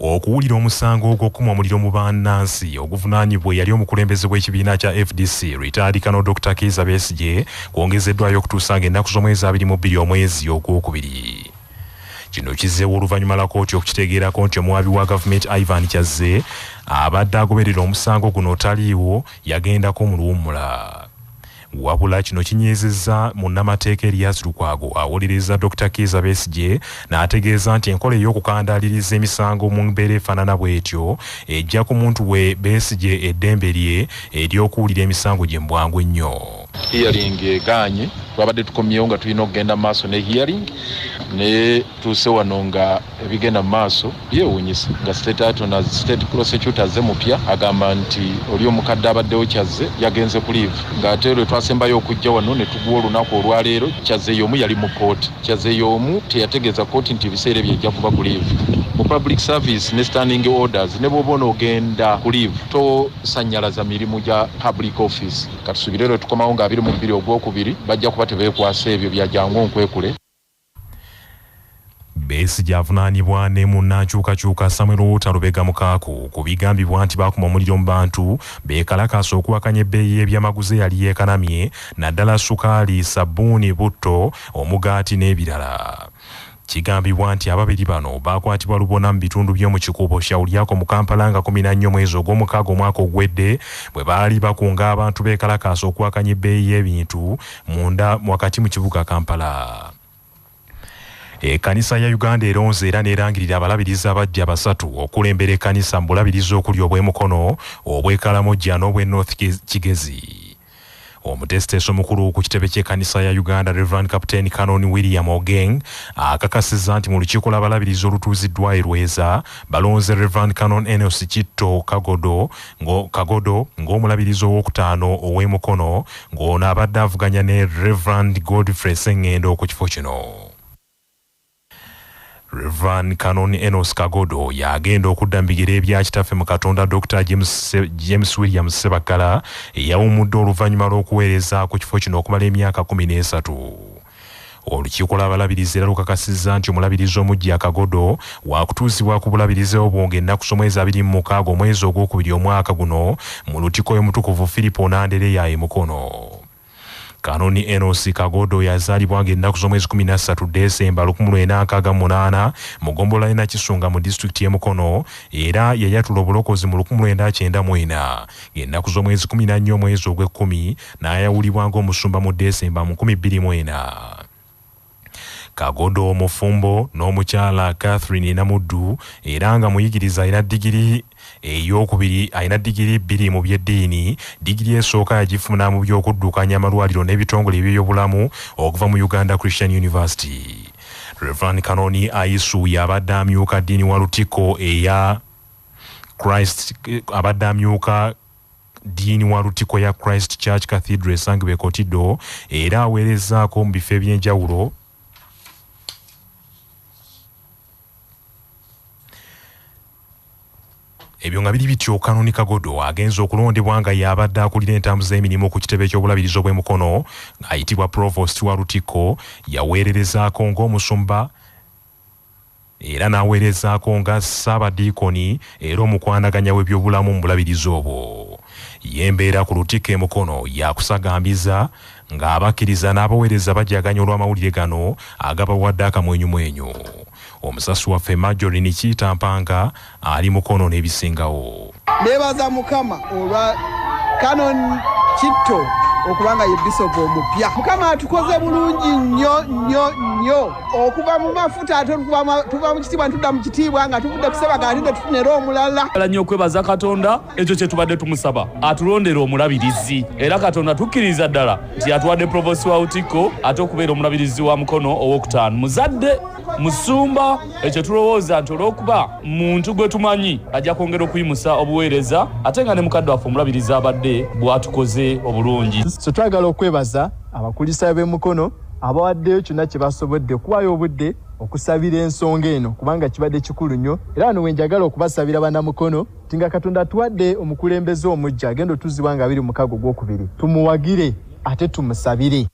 okuwulira omusango ogw'okukuma omuliro mu bannansi oguvunaanyibwa eyali omukulembeze w'ekibiina kya fdc ritalikano dr kiiza besigye kwongezeddwayo okutuusa ng'ennaku z'omwezi abiri mu bbiri omwezi ogwokubiri Kino kizzeewo oluvannyuma la kooti okukitegeerako nti omuwaabi wa gavumenti Ivan Kyazze abadde agoberera omusango guno otaliiwo yagenda ko mu luwummula wabula kino kinyezezza munnamateeka erias lukwago awolereza dr kiiza besigye n'ategeeza nti enkola ey'okukandaaliriza emisango mu mbeera efaanana bw'etyo ejja ku muntu we besigye eddembe lye ery'okuwulira emisango gye mu bwangu ennyo Hearing egaanye twabadde tukomyewo nga tulina okugenda maaso ne hearing naye tuuse wano nga ebigenda mu maaso byewuunyisa nga state atona state prosecutor azze mupya agamba nti oli omukadde abaddewo kyazze yagenze ku live ng'ate lwe twasembayo okujja wano ne tugwa olunaku olwaleero kyazze y'omu yali mu kooti kyazze y'omu teyategeeza kooti nti ebiseera ebyo ejja kuba ku live mu public service ne standing orders ne bw'oba onoogenda ku live tosannyalaza mirimu gya public office Katusubire lwe tukomawo nga abiri mu bbiri ogwokubiri bajja kuba tebeekwasa ebyo bya jangu onkwekule. Besigye avunaanibwa ne munnankyukakyuka Samuel Walter Lubega Mukaaku ku bigambibwa nti baakuma omuliro mu bantu beekalakaasa okuwakanya ebbeeyi y'ebyamaguzi eyali yeekanamye naddala sukaali, ssabbuuni, butto, omugaati n'ebirala. Kigambibwa nti ababiri bano baakwatibwa lubona mu bitundu by'omu Kikuubo Shauriako mu Kampala nga kumi na nnyo mwezi ogw'omukaaga omwaka ogwedde bwe baali bakunga abantu beekalakaasa okuwakanya ebbeeyi y'ebintu munda wakati mu kibuga Kampala. Ekanisa ya Uganda eronze era nerangirira abalabirizi abaggya basatu okulembera ekanisa mu bulabirizi okuli obw'e Mukono, obw'e Karamoja n'obw'e North Kigezi. omuteesiteesi omukulu ku kitebe ky'ekkanisa ya uganda reverand captain canon william ogeng akakasizza nti mu lukiiko lw'abalabirizi olutuuziddwa erweza balonze reverand canon enos kitto kagodo kagodo ng'omulabirizi ow'okutaano ow'emukono ng'ono abadde avuganya ne reverand godfrey sengendo ku kifo kino Rev. Canon Enos Kagodo y'agenda okudda mu bigere ebya Kitaffe mu Katonda Dr. James, James Williams Ssebaggala eyawummudde oluvannyuma lw'okuweereza ku kifo kino okumala emyaka kumi n'esatu. Olukiiko lw'abalabirizi era lukakasizza nti omulabirizi omuggya Kagodo waakutuuzibwa ku bulabirizi obwo ng'ennaku z'omwezi abiri mu mukaaga omwezi ogwokubiri omwaka guno mu Lutiko y'Omutukuvu Firipo Nandereya e Mukono. Kanoni Enosi Kagodo yazaalibwa ng'ennaku z'omwezi kumi na ssatu Ddesemba lukumi lwenda nkaaga mu munaana mu ggombolola y'e Nakisunga mu disitulikiti y'e Mukono era yayatula obulokozi mu lukumi lwenda kyenda mu ena ng'ennaku z'omwezi kumi na nnya omwezi ogw'ekkumi n'ayawulibwa ng'omusumba mu Ddesemba mu nkumi bbiri mu ena. Kagodo mufumbo n'omukyala Catherine Namuddu era nga muyigiriza alina digiri ey'okubiri alina digiri bbiri mu by'eddiini. Digiri esooka yagifuna mu by'okuddukanya amalwaliro n'ebitongole eby'ebyobulamu okuva mu Uganda Christian University. Rev. Kanoni Ayisu y'abadde amyuka ddiini wa Lutikko eya Christ abadde amyuka Diini wa Lutikko ya Christ Church Cathedral esangibwa e Kotido era aweerezzaako mu bifo eby'enjawulo ebyo nga biri bityo kanoni kagodo agenza okulondebwa nga yabadde akulira entambuza emirimu ku kitebe ky'obulabirizi obw'e mukono ng'ayitibwa provost wa lutikko yaweererezaako ng'omusumba era n'aweerezaako nga Ssaabadiikoni era omukwanaganya w'ebyobulamu mu bulabirizi obwo. Y'embeera ku lutikko e Mukono ya kusagambiza ng'abakkiriza n'abaweereza bajaganya olw'amawulire gano agabawadde akamwenyumwenyu. Omusasi waffe Marjorie Nikitampanga ali mukono nebisingawo nebaza mukama olwa canon kitto okubanga ye bisopu omupya mukama atukoze bulungi nnyo nnyo nnyo okuva mu mafuta ate tuva mu kitiibwa ntudda mu kitiibwa nga tuvudde kusebaga ate netufuna era omulala ala nnyo okwebaza katonda ekyo kyetubadde tumusaba atulondera omulabirizi era katonda tukkiriza ddala nti yatuwadde provosi wa utikko ate okubeera omulabirizi wa mukono owokutaano muzadde musumba ekyo tulowooza nti olw'okuba muntu gwe tumanyi ajja kwongera okuyimusa obuweereza ate nga ne mukadde waffe omulabiriza abadde bw'atukoze obulungi so twagala okwebaza abakulisaayo b'e mukono abawaddeyo kyonna kye basobodde okuwaayo obudde okusabira ensonga eno kubanga kibadde kikulu nnyo era wano wenjagala okubasabira banamukono nti nga katonda atuwadde omukulembeze omujja agenda otuziwa nga abiri mukago gwokubiri tumuwagire ate tumusabire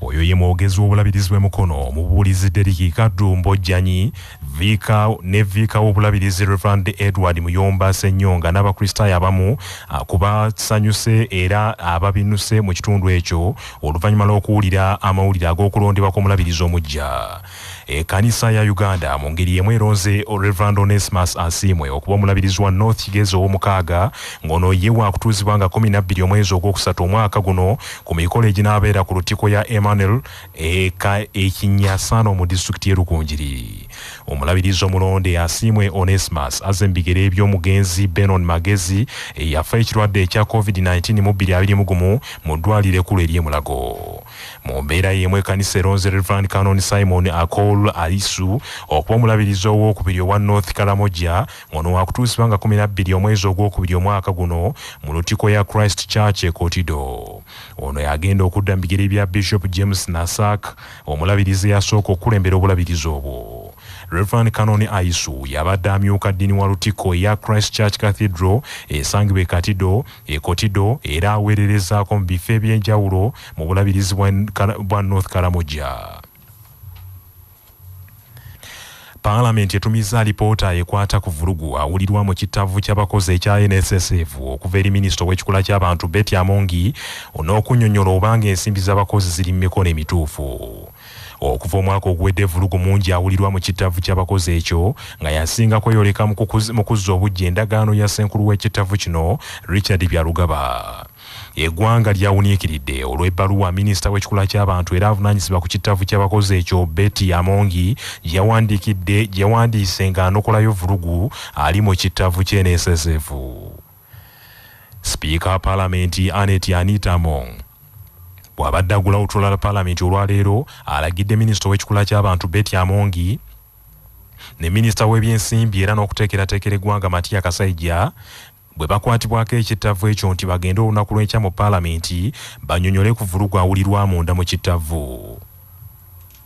Oyo ye mwogezi w'obulabirizi bwe Mukono mu bubuulizi Deriki Kadumbo Janyi viika ne viika w'obulabirizi Reverend Edward Muyomba Ssenyonga n'Abakristaayo abamu ah, kubasanyuse era ababinuse mu kitundu ekyo oluvannyuma lw'okuwulira amawulire ag'okulondebwa kw'omulabirizi omuggya. Ekkanisa ya Uganda mu ngeri y'emu eronze Rev. Onesmus Asiimwe okuba omulabirizi wa North Kigezi ow'omukaaga ng'ono ye waakutuuzibwa nga kkumi na bbiri omwezi ogwokusatu omwaka guno ku mikolo eginaabeera ku lutikko ya Emmanuel eka e Kinyasaano mu disitulikiti y'e Rukungiri. Omulabirizi omulonde Asiimwe Onesmus azze mu bigere by'omugenzi Benon Magezi eyafa ekirwadde ekya Covid nineteen mu bbiri abiri mu gumu mu ddwaaliro ekkulu ery'e Mulago. Mu mbeera y'emu ekkanisa eronze Reverend Canon Simon Akol Alisu okuba omulabirizi ow'okubiri owa North Karamoja ngono wakutuusibwa nga kumi nabbiri omwezi ogw'okubiri omwaka guno mu lutiko ya Christ Church e Kotido. Ono yagenda okudda mu bigere bya Bishop James Nasak omulabirizi eyasooka okukulembera obulabirizi obwo. Reverend Canon Aisu yabadde amyuka ddini wa lutiko eya Christ Church Cathedral esangibwa e Katido e Kotido era aweererezaako mu bifo eby'enjawulo mu bulabirizi bwa North Karamoja. Paalamenti etumizza alipoota ekwata ku vulugu awulirwa mu kittavvu ky'abakozi ekya NSSF okuva eri minisita ow'ekikula ky'abantu Betty Amongi on'okunyonyola obanga ensimbi z'abakozi ziri mu mikono emituufu. Okuva omwaka oguwedde evulugu mungi awulirwa mu kittavvu ky'abakozi ekyo nga yasinga kweyoleka mu kuzza obujja endagaano ya ssenkulu w'ekittavvu kino Richard Byarugaba. Eggwanga lyawuniikiridde olw'ebbaluwa minisita w'ekikula ky'abantu era avunaanyizibwa ku kittavvu ky'abakozi ekyo Betty Amongi gyeyawandiikidde gyeyawandiise ng'anokolayo vulugu ali mu kittavvu ky'eneeseseevu. Sipiika wa Palamenti Annet Anita Among bw'abadde agula olutuula lwa Palamenti olwaleero alagidde minisita ow'ekikula ky'abantu Betty Amongi ne minisita w'ebyensimbi era n'okuteekerateekera eggwanga Matia Kasaija bwe bakwatibwako ekittavvu ekyo nti bagende olunaku lw'enkya mu Palamenti banyonyole ku vvulugu awulirwa munda mu kittavvu.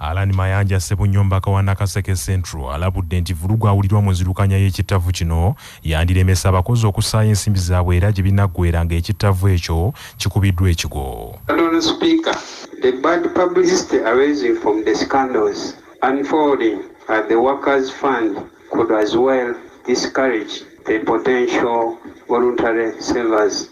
Allan Mayanja Ssebunyombaka wa Nakaseke Central alabudde nti vulugu awulirwa mu nzirukanya y'ekittavvu kino yandiremesa abakozi okusaayo ensimbi zaabwe era gye binaggweera nga ekittavvu ekyo kikubiddwa ekigo. Honourable Speaker, the bad publicity arising from the scandals unfolding at the Workers Fund could as well discourage the potential voluntary savers.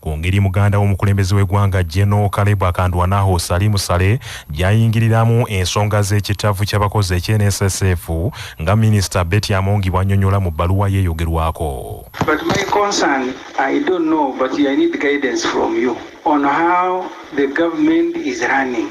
ku ngeri muganda w'omukulembeze w'eggwanga Geno Kalebu Akandwanaho Salimu Sale gy'ayingiriramu ensonga z'ekitavvu ky'abakozi ekye NSSF nga minisita Betty Amongi bw'annyonnyola mu bbaluwa yeeyogerwako. But my concern, I don't know, but I need guidance from you on how the government is running.